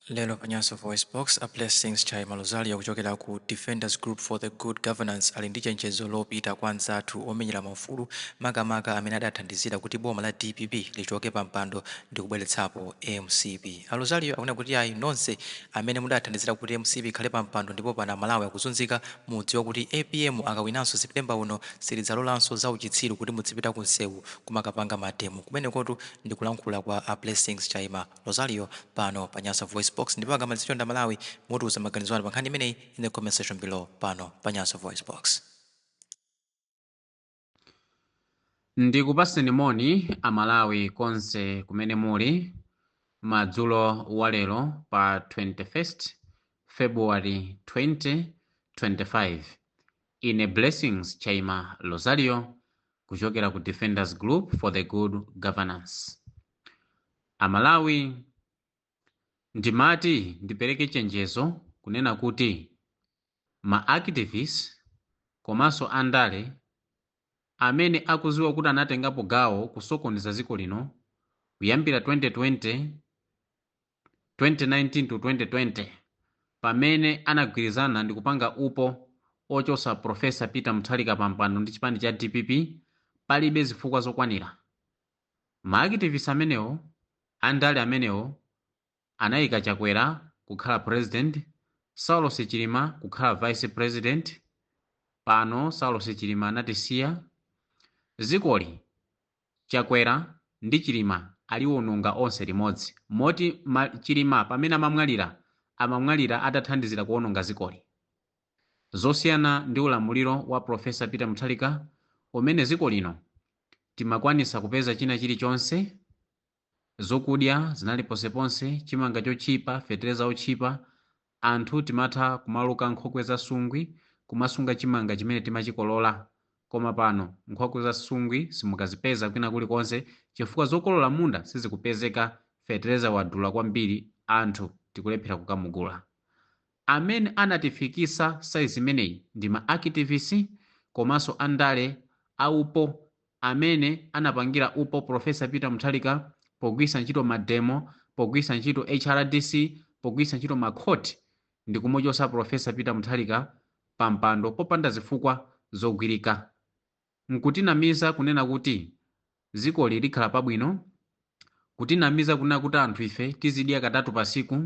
Lero pa Nyasa VoiceBox, a Blessings Chaima Rosario kuchokera ku Defenders Group for the Good Governance ali ndi chenjezo lopita kwa anzathu omenyera maufulu makamaka amene adathandizira kuti boma la dpp lichoke pampando ndi kubweretsapo mcp. A Rosario akunena kuti ayi nonse amene mudathandizira kuti mcp ikhale pampando ndipo pano Amalawi akuzunzika, mudziwe kuti apm akawinanso September uno sitidzalolanso zauchitsiru kuti mudzipita ku msewu kumakapanga mademo. Kumenekotu ndi kulankhula kwa a Blessings Chaima. Rosario pano pa Nyasa VoiceBox ndipo akamalizitsa Amalawi mutiuza maganizo anu pa nkhani imeneyi in the comment section below pano pa Nyasa VoiceBox. Ndikupaseni moni a Malawi konse kumene muli madzulo a lero pa 21st February 2025. Ine Blessings Chaima Rosario kuchokera ku Defenders Group for the Good Governance. Amalawi ndimati ndipereke chenjezo kunena kuti ma activist komanso andale amene akuziwa kuti anatengapo gawo kusokoneza ziko lino kuyambira 2020 2019 to 2020 pamene anagwirizana ndikupanga upo ochosa professor peter muthalika pampando ndi chipani cha dpp palibe zifukwa zokwanira Ma activist amenewo andale amenewo anaika Chakwera kukhala president, Saulos Chilima kukhala vice president, pano Saulos Chilima anatisiya, zikoli Chakwera ndi Chilima aliwononga onse limodzi moti Chilima pamene amamwalira amamwalira atathandizira kuwononga zikoli. zosiyana ndi ulamuliro wa professor Peter Muthalika umene ziko lino timakwanisa kupeza china chili chonse zokudya zinali ponseponse chimanga chochipa fetereza ochipa anthu timatha kumaluka nkhokwe za sungwi kumasunga chimanga chimene timachikolola koma pano nkhokwe za sungwi simukazipeza kwina kuli konse chifukwa zokolola mmunda sizikupezeka fetereza wadula kwambiri anthu tikulephera kukamugula Amene anatifikisa size imeneyi ndi ma akitivisi komanso andale a upo amene anapangira upo professor peter muthalika pogwirisa ntchito mademo pogwirisa ntchito hrdc pogwirisa ntchito ma court ndikumuchosa professor peter muthalika pampando popanda zifukwa zogwirika. Nkutinamiza kunena kuti zikoli likhala pabwino, kutinamiza kunena kuti anthu ife tizidya katatu pasiku,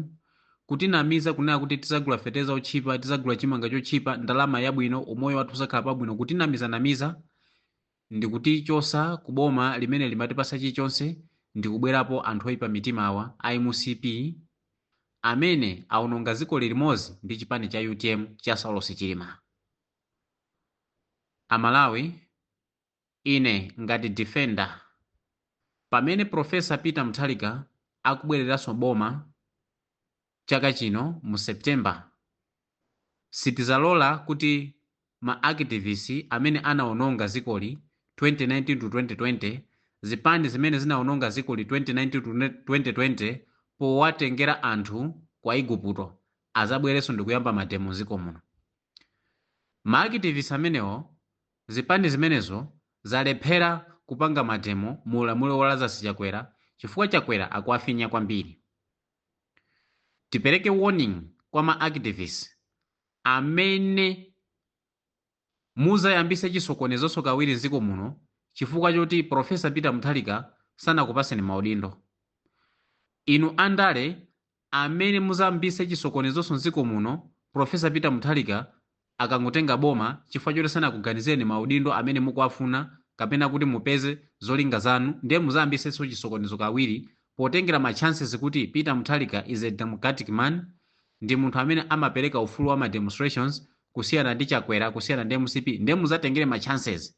kutinamiza kunena kuti tizagula feteleza otchipa, tizagula chimanga chotchipa, ndalama yabwino, umoyo wathu uzakhala pabwino, kutinamiza namiza ndikutichosa ku boma limene limatipasa chilichonse ndikubwerapo anthu oipa mitima awa a mcp amene aononga zikoli limozi ndi chipani cha utm cha Saulosi Chilima. Amalawi ine ngati defender pamene professor Peter Muthalika akubwereranso boma chaka chino mu September sitizalola kuti ma activist amene anaononga zikoli 2019 to 2020 zipani zimene zinaononga zikoli 2019 to 2020 powatengera anthu kwa iguputo azabwereso ndikuyamba mademo mziko muno. Ma activist amenewo zipani zimenezo zalephera kupanga mademo mu ulamuliro wa Lazarus Chakwera chifukwa Chakwera akuwafinya kwambiri. Tipereke warning kwa ma activist amene muzayambise chisokonezonso kawiri mziko muno chifukwa choti Prof. Peter Mutharika sanakupaseni maudindo. Inu andale Amene muzayambise chisokonezonso nziko muno professor peter muthalika akangotenga boma chifukwa choti sanakuganizireni maudindo amene mukuwafuna kapena kuti mupeze zolinga zanu ndiye muzayambisenso chisokonezo kawiri potengera ma chances kuti peter muthalika is a democratic man ndi munthu amene amapeleka ufulu wa ma demonstrations kusiyana ndi chakwera kusiyana ndi mcp ndiye muzatengere ma chances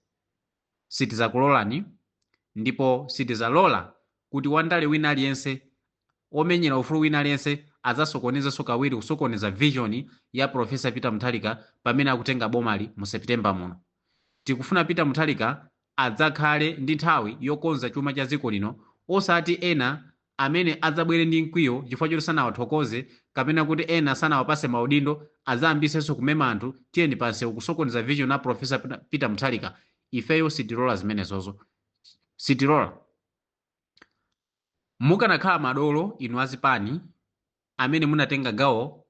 sitizakulolani ndipo sitizalola kuti wandale wina aliyense omenyera ufulu wina aliyense azasokonezenso kawiri kusokoneza vision ya professor peter muthalika pamene akutenga bomali mu september muno tikufuna peter muthalika adzakhale ndi nthawi yokonza chuma cha dziko lino osati ena amene adzabwere ndi mkwiyo chifukwa choti sanawathokoze kapena kuti ena sanawapase maudindo adzayambisenso kumema anthu tiyeni pansewu kusokoneza vision ya professor peter muthalika ifeyo sitilola zimenezozo sitilola mukanakhala madolo inu azipani amene munatenga gawo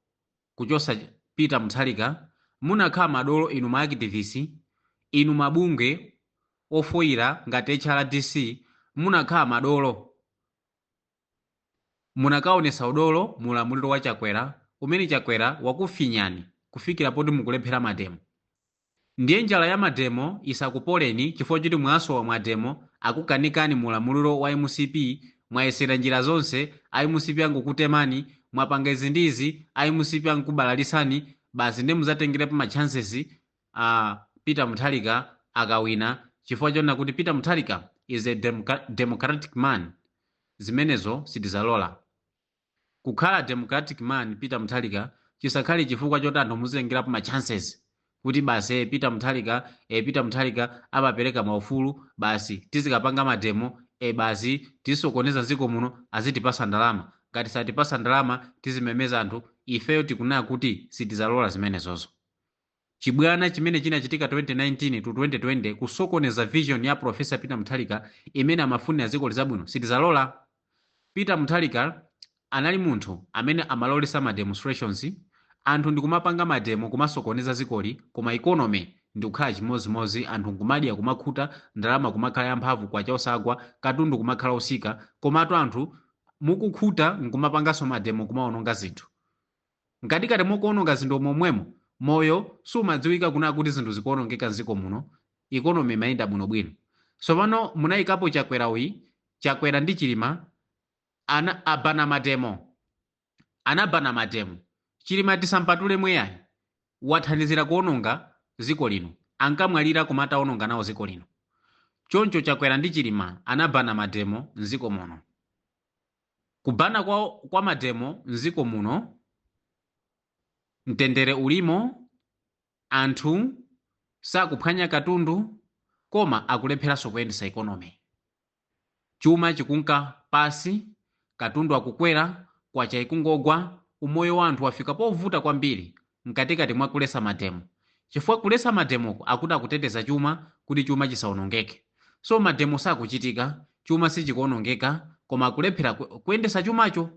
kuchosa peter muthalika munakhala madolo inu ma activist inu mabungwe ofoyira ngati hrdc munakhala madolo munakaonesa udolo mu ulamuliro wa chakwera umene chakwera wakufinyani kufikira poti mukulephera mademo Ndiye njala ya mademo isakupoleni chifukwa choti mwasowa mademo akukanikani mu ulamuliro wa mcp mwayesera njira zonse a mcp angukutemani mwapanga izi ndi izi a mcp angukubalalitsani basi ndiye muzatengerepo ma chances a Peter Mutharika akawina chifukwa chonena kuti Peter Mutharika is a democra- democratic man zimenezo sitizalola Kukhala democratic man Peter Muthalika chisakhale chifukwa choti anthu muzitengerapo ma chances kuti basi ee Peter Muthalika ee Peter Muthalika amapereka ma ufulu basi tizikapanga mademo ee basi tizisokoneza mziko muno azitipasa ndalama ngati satipasa ndalama tizimemeza anthu ifeyo tikunena kuti sitizalola zimenezozo. Chibwana chimene chinachitika 2019 to 2020 kusokoneza vision ya Prof Peter Mutharika imene amafunira dzikoli zabwino sitizalola. Peter Mutharika anali munthu amene amalolesa ma demonstrations anthu ndikumapanga mademo kumasokoneza dzikoli koma economy ndikukhala chimodzimodzi anthu nkumadya kumakhuta ndalama kumakhala yamphamvu kwacha osagwa katundu kumakhala osika komatu anthu mukukhuta nkumapanganso mademo kumaononga zinthu. Mkatikati mokuononga zinthu momwemo moyo sumadziwika kunena kuti zinthu zikuonongeka mziko muno economy imayenda bwino bwino tsopano munaikapo chakwera uyi chakwera ndi chilima ana abana mademo anabana mademo chilima tisampatulemwe iyayi wathandizira kuononga ziko lino ankamwalira koma ataononga nawo ziko lino choncho chakwera ndi chilima anabana mademo mziko muno. Kubana kwa kwa mademo mziko muno mtendere ulimo anthu sakuphwanya katundu koma akulepheranso kuyendesa economy chuma chikunka pasi katundu akukwera kwacha ikungogwa umoyo wa anthu wafika povuta kwambiri mkatikati mwa kulesa mademo chifukwa kulesa mademoko akuti akuteteza chuma kuti chuma chisaonongeke so mademo sakuchitika chuma sichikuonongeka koma akulephera ku- kuyendesa chumacho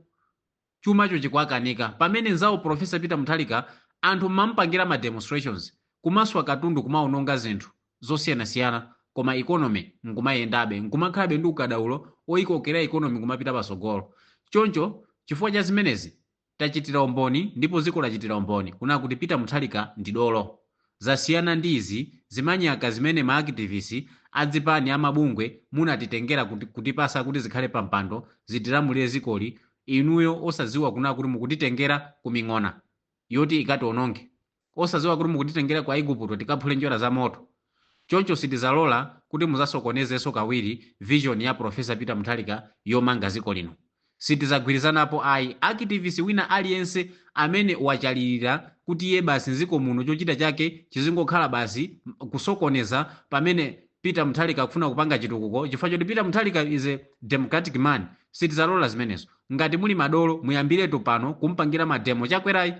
chumacho chikuwakanika pamene nzawo profesa peter muthalika anthu amamupangira ma demonstrations kumaswa katundu kumaononga zinthu zosiyanasiyana koma economy nkumayendabe nkumakhalabe ndi ukadaulo oyikokera economy kumapita pasogolo choncho chifukwa cha zimenezi Tachitira umboni ndipo dziko lachitira umboni kunena kuti Peter Mutharika ndi dolo. Zasiyana ndi izi zimanyaka zimene ma akitivisi, azipani, amabungwe munatitengera kut kutipasa kuti zikhale pampando zitilamulire dzikoli inuyo osadziwa kunena kuti mukutitengera kuming'ona yoti ikationonge. osadziwa kuti mukutitengera ku Aigupto tikaphule njerwa za moto. Choncho sitizalola kuti muzasokonezenso kawiri vision ya Prof. Peter Mutharika yomanga dziko lino. Sitizagwirizanapo ayi. Activist wina aliyense amene wachalirira kuti iye basi m'dziko muno chochita chake chizingokhala basi kusokoneza pamene Peter Mutharika akufuna kupanga chitukuko chifukwa choti Peter Mutharika is a democratic man, sitizalola zimenezo. Ngati muli madolo muyambiretu pano kumpangira ma demo Chakwerayi.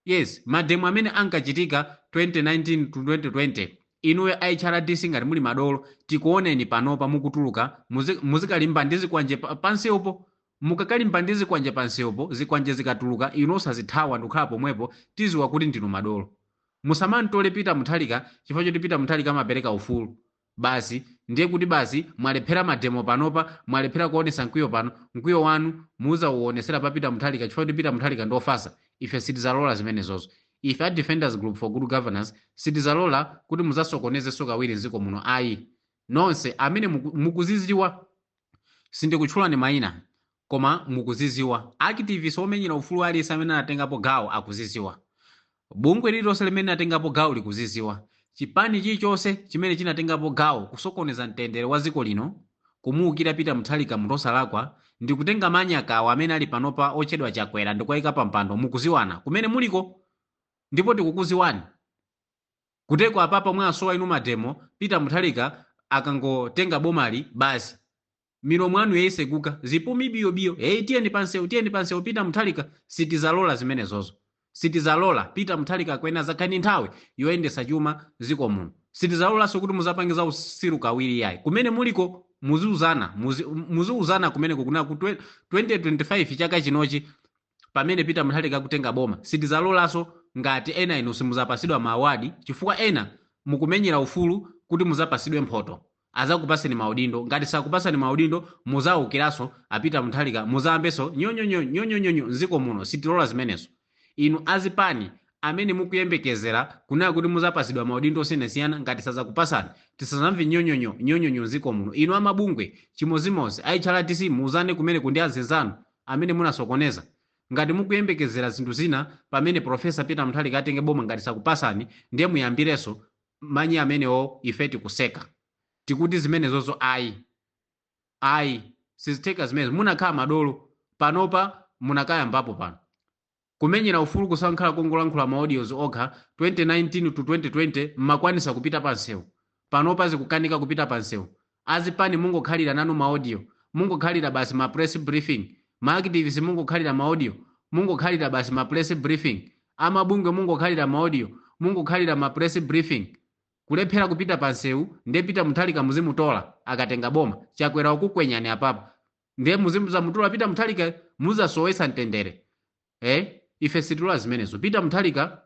Yes mademo amene ankachitika 2019 to 2020 inuyo a HRDC ngati muli madolo tikuoneni panopa mukutuluka muzi, muzikalimba ndi zikwanje pa- pansewupo mukakalimba ndi zikwanje pansewupo zikwanje zikatuluka inu osazithawa ndikukhala pomwepo tiziwa kuti ndinu madolo musamamtole Peter Mutharika chifukwa choti Peter Mutharika amapereka ufulu basi ndiye kuti basi mwalephera mademo panopa mwalephera kuonesa mkwiyo pano mkwiyo wanu muzauonesera pa peter muthalika chifukwa choti peter muthalika ndi ofasa ife sitizalola zimenezozo ife a defenders group for good governance sitizalola kuti muzasokonezenso kawiri mdziko muno ayi nonse amene muku- mukuziziwa sindikutchulani maina koma mukuziziwa, activist omenyera ufulu aliyense amene anatengapo gawo akuziziwa, bungwe lililonse limene linatengapo gawo likuziziwa, chipani chilichonse chimene chinatengapo gawo kusokoneza mtendere wa dziko lino, kumuukira Peter Mutharika munthu osalakwa, ndikutenga manyaka awa amene ali panopa otchedwa Chakwera ndikuwaika pampando mukuziwana kumene muliko ndipo tikukuziwani. Kuteko apapa mwasowa inu mademo Peter Muthalika akangotenga bomali basi milomo anu yaiseguka zipumi biyo biyo hey, tiyeni pansewu tiyeni pansewu Peter Muthalika sitizalola zimenezozo sitizalola Peter Muthalika akuyenera azakhale ndi nthawi yoyendesa chuma ziko muno sitizalolanso kuti muzapange za usiru kawiri yayi kumene muliko muziuzana muzi, muziuzana kumeneko kunena kuti 2025 chaka chinochi pamene peter muthalika akutenga boma sitizalolanso ngati ena inu simuzapasidwa ma awadi chifukwa ena mukumenyera ufulu kuti muzapasidwe mphoto azakupaseni maudindo ngati sakupasani maudindo muzaukiranso a peter muthalika muzayambenso nyonyonyo nyonyonyonyo mziko muno sitilola zimenezo inu azipani amene mukuyembekezera kunena kuti muzapasidwa maudindo osiyanasiyana ngati sazakupasani tisazamve nyonyonyo nyonyonyo mziko muno inu amabungwe chimozimozi a HRDC muuzane kumeneko ndi anzinzanu amene munasokoneza. Ngati mukuyembekezera zinthu zina pamene Prof Peter Muthalika atenge boma ngati sakupasani ndiye muyambireso manyi amenewo ife tikuseka tikuti zimenezozo ayi ayi sizitheka zimenezo munakakhala madolo panopa munakayambapo pano. Kumenyera ufulu kusankhala kungolankhula ma audios okha 2019 to 2020 mmakwanisa kupita pa nsewu panopa zikukanika kupita pa nsewu azipani mungokhalira nanu ma audio mungokhalira basi ma press briefing ma activist mungokhalira ma audio mungokhalira basi ma press briefing amabungwe mungokhalira ma audio mungokhalira ma press briefing kulephera kupita pa nsewu nde Peter Muthalika muzimutola akatenga boma chakwera wakukwenyani apapa ndiye muzimuzamutola pita muthalika muzasowesa mtendere eh? ife situla zimenezo pita muthalika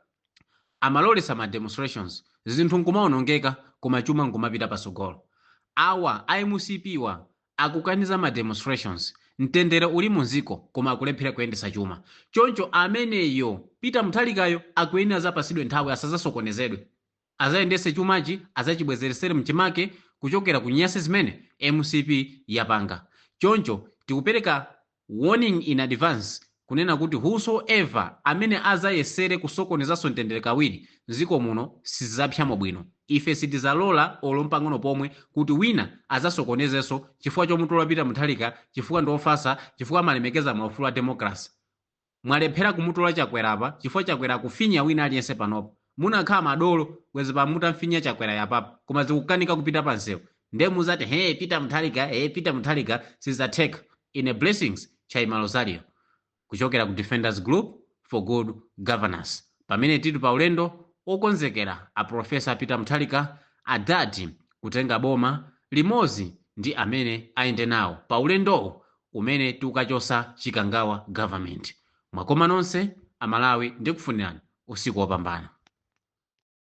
amalolesa ma demonstrations zinthu nkumaonongeka koma chuma nkumapita pasogolo awa a mcpwa akukaniza ma demonstrations mtendere uli munziko koma akulephera kuyendesa chuma choncho ameneyo pita muthalikayo akuyenera azapasidwe nthawi asazasokonezedwe azayendese chumachi azachibwezelesele mchimake kuchokela ku nyasi zimene mcp yapanga choncho tikupeleka warning in advance kunena kuti whosoever amene azayesele kusokonezaso mtendele kawili mziko muno sizizapsyamo bwino ife sitizalola olo mpang'ono pomwe kuti wina azasokonezeso chifukwa chomutola peter muthalika chifukwa ndiofasa chifukwa amalemekeza maufulu a democracy Mwalephera kumutola chakwera apa chifukwa chakwera akufinya wina aliyense panopa munakhala madolo bwezi pano mutamfinya chakwerayo apapa koma zikukanika kupita pa nsewu nde muzati hee peter muthalika hee peter muthalika sizatheka ine blessings chaima rosario kuchokera ku defenders group for good governance pamene tili pa ulendo okonzekera after profesa peter muthalika atati atenga boma limozi ndi amene ayende nawo pa ulendowu umene tikukachosa chikangawa government mwakoma nonse amalawi ndikufunirani usiku wopambana.